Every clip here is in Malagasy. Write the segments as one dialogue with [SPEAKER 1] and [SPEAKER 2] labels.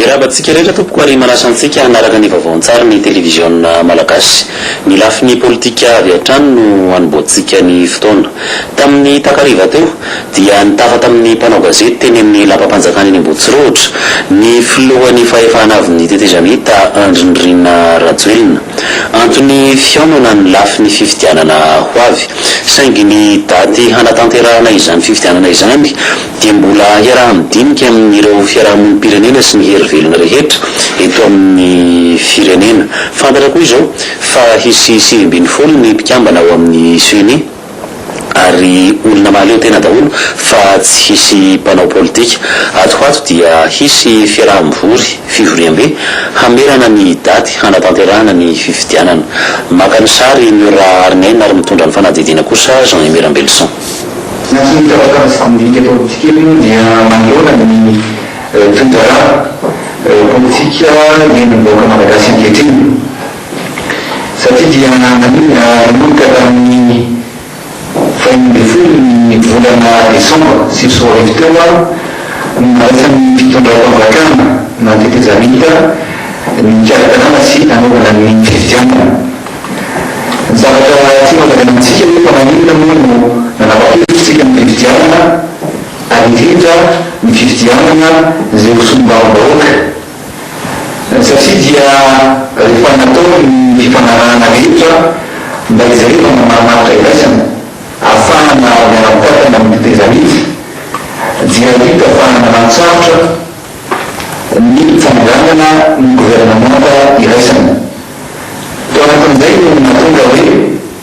[SPEAKER 1] Miarahaba antsika rehetra tompoko ary manasa antsika hanaraka ny vaovaon-tsary ny televiziona malagasy. Ny lafiny politika avy hatrany no hanombohantsika ny fotoana. Tamin'ny takariva teo dia nitafa tamin'ny mpanao gazety teny amin'ny lapam-panjakana eny Ambohitsorohitra ny filohan'ny fahefana avy ny tetezamita Andry Nirina Rajoelina. Antony fihaonana ny lafiny fifidianana ho avy. Saingy ny daty hanatanterahana izany fifidianana izany dia mbola hiaraha-midinika amin'ireo fiarahamonim-pirenena sy ny hery velona rehetra eto amin'ny firenena. Fantatra koa izao fa hisy sivy ambin'ny folo ny mpikambana ao amin'ny Ceni. ary olona mahaleo tena daholo fa tsy hisy mpanao politika. Ato ho ato dia hisy fiaraha-mivory, fivoriambe, hamerana ny daty hanatanterahana ny fifidianana. Maka ny sary ny Ra Hariniaina ary mitondra ny fanadihadiana kosa Jean Aimé Rambelison. Na tsy mitambatra
[SPEAKER 2] amin'ny sandika politika moa dia manoloana ny toe-draharaha politika iainan'ny vahoaka malagasy ankehitriny Satria dia naninona nanomboka tamin'ny fahefany ambin'ny folo ny volana desambra sivy sy roa arivo teo ary no naraisan'ny fitondram-panjakana na tetezamita ny hikarakarana sy hanaovana ny fifidianana. Zavatra tiana lazaina amintsika hoe fa naninona moa no nanapa-kevitr'isika ny fifidianana ary indrindra ny fifidianana izay ho solombavambahoaka? Satria dia rehefa natao ny fifanarahana rehetra mba hijerevana marimaritra iraisana ahafahana miara-mikatona amin'ny fitezan-nify dia hita fa nanan-tsarotra ny fanondranana ny governemanta iraisana. Tao anatin'izay no nahatonga hoe.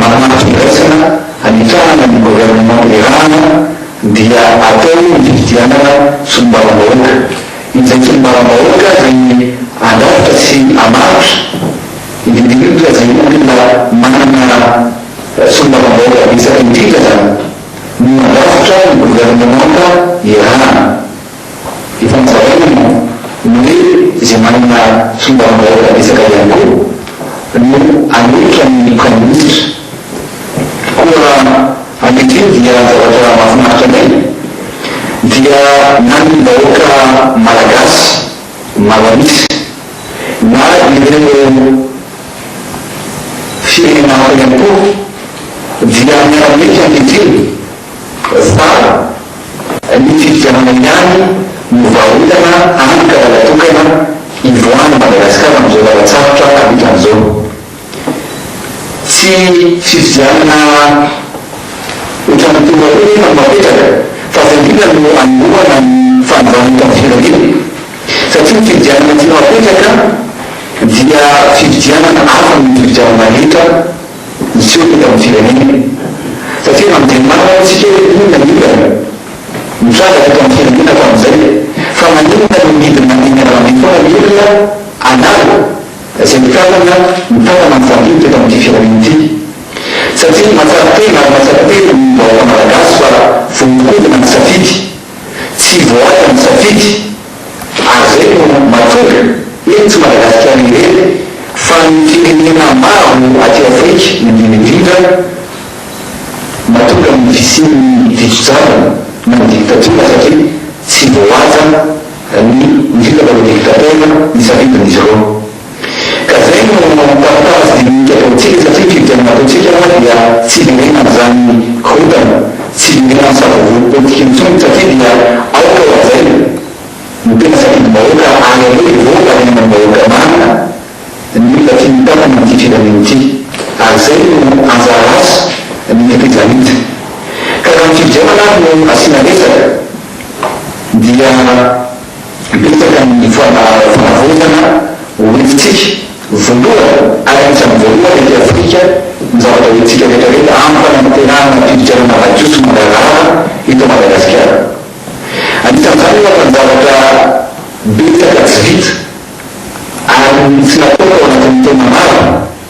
[SPEAKER 2] Manampy fandraisana hanitsahana ny governemanta Iràna dia atao ny fifidianana solombavambahoaka. Izay solombavambahoaka izay handrafitra sy hamaritra, indrindrindrindra izay olona manana solombavambahoaka betsaka indrindra izany, no handrafitra ny governemanta Iràna. Efa nozaraina moa ny hoe izay manana solombavambahoaka betsaka ihany koa no hanohitra ny praiminisitra. Koa ankehitriny dia ny zavatra mahafinaritra anay dia na ny vahoaka malagasy maro an'isa na ireo firenena hafa ihany koa dia miara-miaika ankehitriny. Fa ny fifidianana ihany no varotana any ka lala tokana ivoahan'i Madagasikara amin'izao lalan-tsarotra amitany izao. Tsy fifidianana ohatran'ny toa hoe efa napetraka fa fandriana no anombohana ny fanovana eto amin'ny firenena satria ny fifidianana tianao apetraka dia fifidianana hafa noho ny fifidianana rehetra. hiseho eto amin'ny firenena satria na dia maro aza isika hoe inona ny olana mitrangatra eto amin'ny firenena hatramin'izay fa maninona no midina eny an-dalambe foana ny olona hanala izay mikatona ny tanana mifandimby teto amin'ity firenena ity satria matsapa tena ary matsapa tena ny vahoaka malagasy fa voahodina ny safidy tsy voaasa ny safidy Ary izay no mahatonga, eny tsy Madagasikara irery fa ny firenena maro aty Afrika indrindra indrindra, mahatonga ny fisian'ny diso-drariny na ny dictature satria tsy voahaja ny, indrindra fa ireo dictateurs, ny safidin'izy ireo. Ka zay no tavitavy dinika ataontsika satria ny fifidianana ataontsika moa dia tsy iveriana an'izany korontana, tsy iveriana amin'ny savorovoro politika intsony satria dia aoka hohajaina ny tena safidim-bahoaka ary aleo hivoaka ny ainan'ny vahoaka marina ny olona tiany hitantana an'ity firenena ity ary zay no anjara asa ny tetezamita ka raha ny fifidianana ary no asiana resaka dia Betsaka ny fanavotana ho entintsika, voalohany ary anisan'ny voalohany aty Afrika, ny zavatra entintsika rehetrarehetra amin'ny fanantenana hampiditra ny Malagasy ho mangarahara eto Madagasikara. Anisan'izany ohatra ny zavatra betsaka tsy vita ary tsy natao tao anatin'ny taona maro.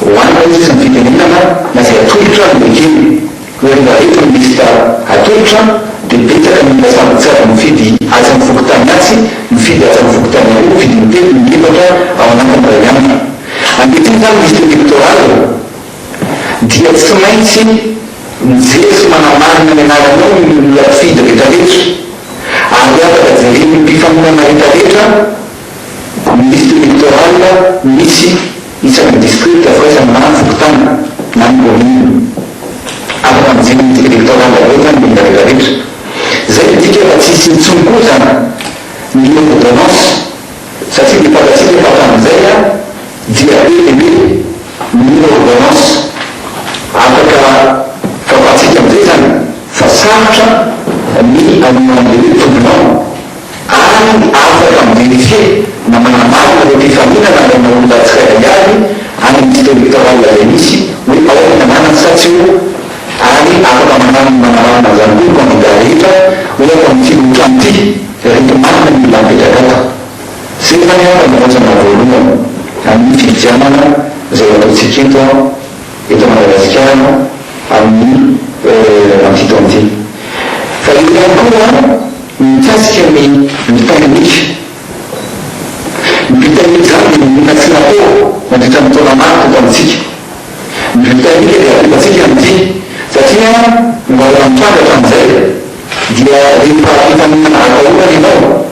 [SPEAKER 2] Hoanina izy tsy mifidianana na izay atolotra no ekena. Hoy ry Barreto ny lisitra atolotra dia betsaka ny mpasambotry tsy avy nifidy atsy amin'ny fokontany atsy mifidy atsy amin'ny fokontany aroa mifidy intelo na inefatra ao anatin'ny iray andro. Ankehitriny izany lisitra elektoraly dia tsy maintsy mijery sy manamarina ny anaranao ny olona mpifidy rehetra rehetra ary afaka jeren'ny mpifaninana rehetra rehetra. Ny liste électorale misy isan'ny district fa isan'ny na ny fokontany na ny commune. Afaka mijery liste électorale avy eo zany ny olona rehetra rehetra. Zay midika fa tsy hisy intsony koa zany ny loi d'ordonnance satria dia fantatsika fa hatramin'izay a dia be dia be ny loi ordonnance. Afaka fantatsika am'zay zany fa sarotra ny hamoahan'ilay hoe tribunal. ary afaka mi-vérifier na manamarina ny mpifaninana any amina olona tsirairay avy any amin'ny district électoral izay misy hoe ao ny anarany sa tsy eo ary afaka manaminy manamarina an'izany koa ny candidat rehetra ohatra amin'ity lohatrano ity rehefa marina ny olona mipetraka ato. Izay izany angamba no rantsana voalohany amin'ny fifidianana izay ataontsika eto an! eto Madagasikara amin'ny ampito anty. Fa eo ihany koa ny mikasika ny Britannica. Ny Britannica izany dia monina tsy natao nandritra ny taona maro teto amintsika. Ny Britannica dia apelantsika anty satria mbola mitrandraka amin'izay dia rehefa efa mihinana atahorana ianao,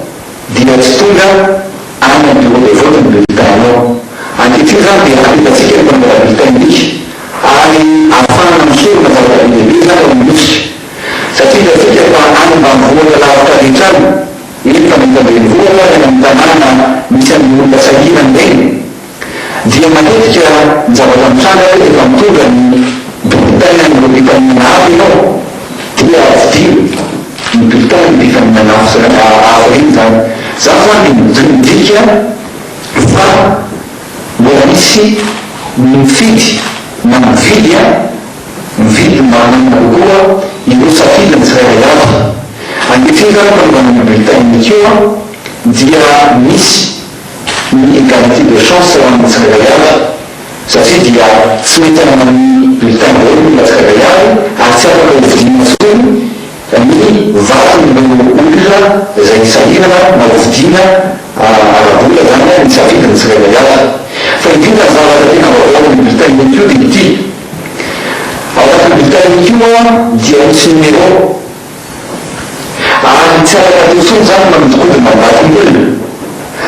[SPEAKER 2] dia tsy tonga any amin'ny bureau de vote ny bulletin-nao. Ankehitriny izany dia hapetratsika ny mpamela bulletin-nika ary ahafahana misorona zava-dehibe be izany eo amin'ny nosika. Satria hitantsika fa any ambanivohitra lavitra rehetra any, eny fa na eto an-drenivohitra ary any amin'ny tanàna misy an'ireny olona sahirana ireny, dia matetika ny zavatra mitranga hoe rehefa mitondra ny bulletin an'ireo mpifaninana hafa ianao dia tsidiho ny bulletin ny mpifaninana hafa ireny izany. Izaho izany dia midika fa mbola misy ny mifidy na mividy an, mividy mba hananana kokoa ireo safidy ny tsirairay avy. Ankehitriny izany fanaovana ny bulletin-ny akeo dia misy. Ny garantie de chance ho an'ny tsirairay avy satria dia tsy mety hanana ny bulletin daholo ny olona tsirairay avy ary tsy afaka hovidiana intsony ny vaton'ireo olona izay nisahirana na hovidiana ara-bola izany ny safidin'ny tsirairay avy. Fa indrindra ny zavatra tena vaovao amin'ny bulletin unique io dia ity, ao anatin'ny bulletin unique io dia misy numéro, Ary tsy afaka atao intsony izany ny manodinkodina mandaty ny olona,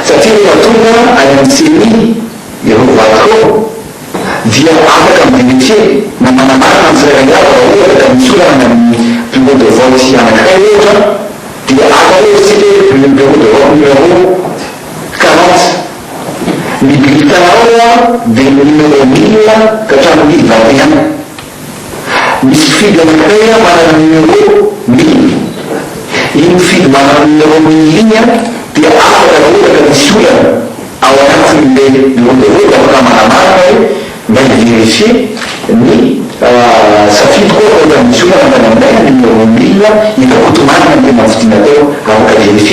[SPEAKER 2] satria rehefa tonga any amin'ny ceni ireo vadiko dia afaka mi-verifier na manamarina ny tsirairay avy raha ohatra ka misy olana any amin'ny bureau de vote anankiray ohatra dia aka hoe isika hoe bureau de vote numéro quarante ny bulletin ao dia ny numéro mille ka hatramin'ny mille vingt et un Misy fidy any akaiy a manana numéro mille iny fidy manana numéro mille iny a dia afaka ra ohatra ka misy olana ao anatiny le bureau de vote afaka manamarina hoe mba i-verifier ny safidiko aho raha ohatra misy olana tany aminay a numéro mille ita-koto-marina ny tena nifidiana teo afaka verifier